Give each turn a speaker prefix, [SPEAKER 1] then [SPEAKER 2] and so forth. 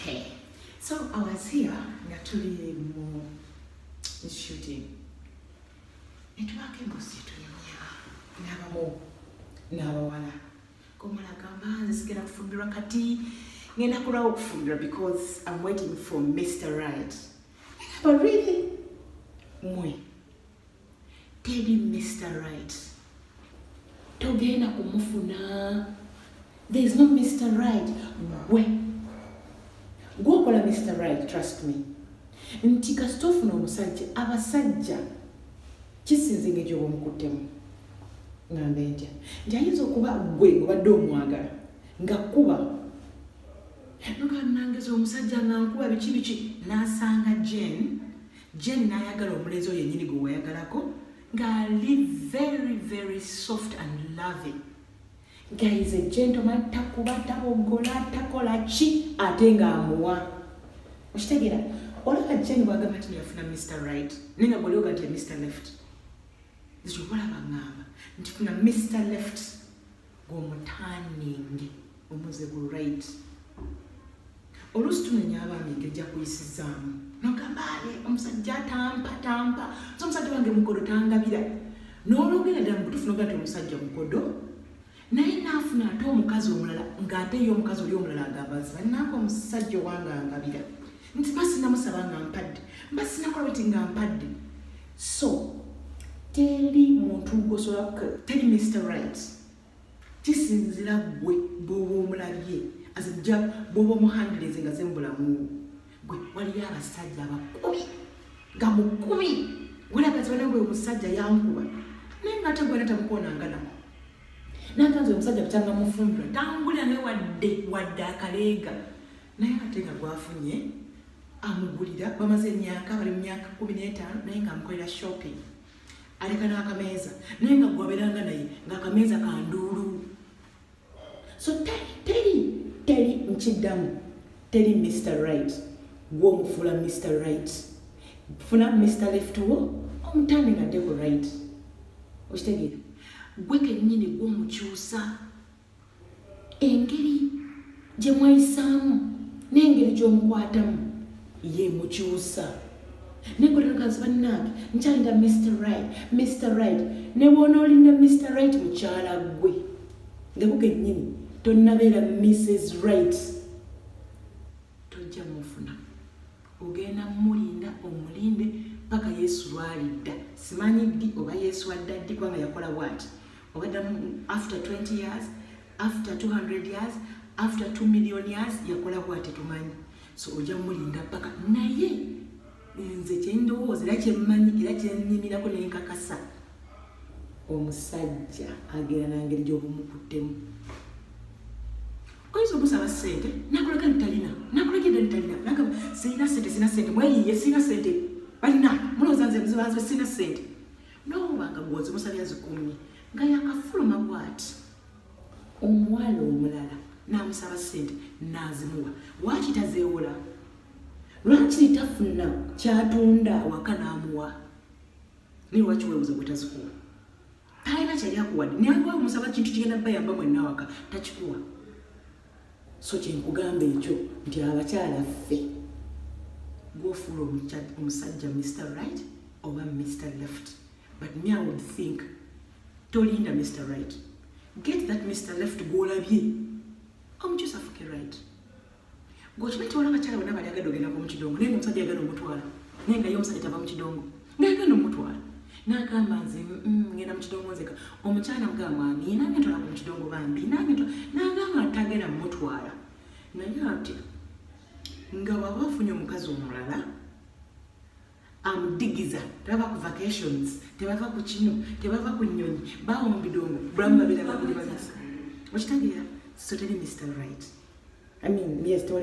[SPEAKER 1] okay so i was here nga tuli mu shooting netubako embuzi tuyamya nabamu nabawala gomulagamba nze sigenda kufumbirwa kati ngenda kulwawo okufumbirwa because im waiting for mr right but really mwe teri mr right togenda kumufuna there is no mr right gwe gwokola mr right trust me nti kasita ofuna omusajja abasajja kisinze nga egyoba omukuttemu ngambe ntya nti ayinza okuba gwe obadde omwagala nga kuba nokanangeza omusajja nga nkuba biki biki nasanga jane Jane n'ayagala omulenzi oyo yennyini gwe wayagalako ng'ali very very soft and loving guys a gentleman takuba tabogola takola ki ate ng'amuwa okitegeera olaba jane bwagamba ti yafuna mr right naye nga bwolioga nti mr left ekyo olaba ngamba nti funa mr left gomutaningi omuze gu right oluusi tunenya abaami ngejja kuyisizaamu nogamba ale omusajja atampa tampa so omusajja wange mukodo tangabira n'olwogera ddala mubutufu nogaa ti omusajja mukodo naye naafuna ate omukazi omulala ng'ate ye omukazi oli omulala agamba nti bannange omusajja owange angabira nti mba sinamusaba nga mpadde mba sinakola bweti nga mpadde so teri muntu gosobola teri mr right kisinzira gwe bwoba omulabye azija bwoba omuhandirizi nga zembulamu gwe waliyo abasajja abakubi nga mukubi gulagazibanagwe omusajja yankuba naye nga ate gwena tamukonanganako nantanze omusajja kukyanga mufumbira tambulira naye wadde wadde akaleega naye ate nga gwafunye amugulira bamaze emyaka bali mu myaka kumi n'etaano naye nga amukolera shopping aleka n'akameeza naye nga gwabeeranga naye ng'akameeza ka nduulu so teri teri nkiddamu teri mr right gwomufuula mr right funa mr left wo omutambi nga dde ku right okitegeera gwe kennyini gwomukyusa engeri gye mwayisaamu n'engeri gy'omukwatamu ye mukyusa naye gwe lagazi bannange nkyalina mr right mr right ne bwona olina mr right mukyala gwe nga bugennyini tonnabeera mrs right tojja mufuna ogenda mulinda omulinde paka yesu lwalidda simanyi ddi oba yesu adda ddi kubanga yakola bwati whether after 20 years after 200 years after 2 million years yakola bwati tumanyi so oja mulinda paka naye nze kyendowooza era kyemmanyi era kyenyimirako nenkakasa omusajja agera nangeri gyobumukuttemu oyinza omusaba sente nakulaga nitalina nakulaga eda nitalina nagamba sirina sente sirina sente mweyiye sirina sente balina mulowooza nze mzibanze sirina sente n'omubanga gwozimusabya zikumye nga yakafuluma bwati omuwala omulala n'amusaba ssente n'azimuwa lwaki tazeewola lwaki tafuna kyatunda awaka n'amuwa naye lwaki weebuza bwe tazikuwa talina kyali akuwadde naye alwawo musaba kintu kigenda bayamba mwenna awaka takikuwa so kyenkugamba ekyo nti abakyala ffe gwofuula omusajja mr right oba mr left but me i would think tolinda mr right get that mr left gwolabye omukyusa fuke right gwokimanyi tiwala abakyala bona bali agadde ogendako mukidongo naye omusajja agana omutwala naye nga ye omusajja tava mukidongo nagenda omutwala nagamba nze mm, ngenda mukidongo nzeka omukyala mga mwami nange ntolako mukidongo bambi nange nagamba atagenda mumutwala naye ati nga waba afunye omukazi omulala amudigiza tebava ku vacations tebava ku kino tebava ku nyonyi bawo mubidongo bulamu babera babiri babisa okitegeera so teri mr right i mean yes tewali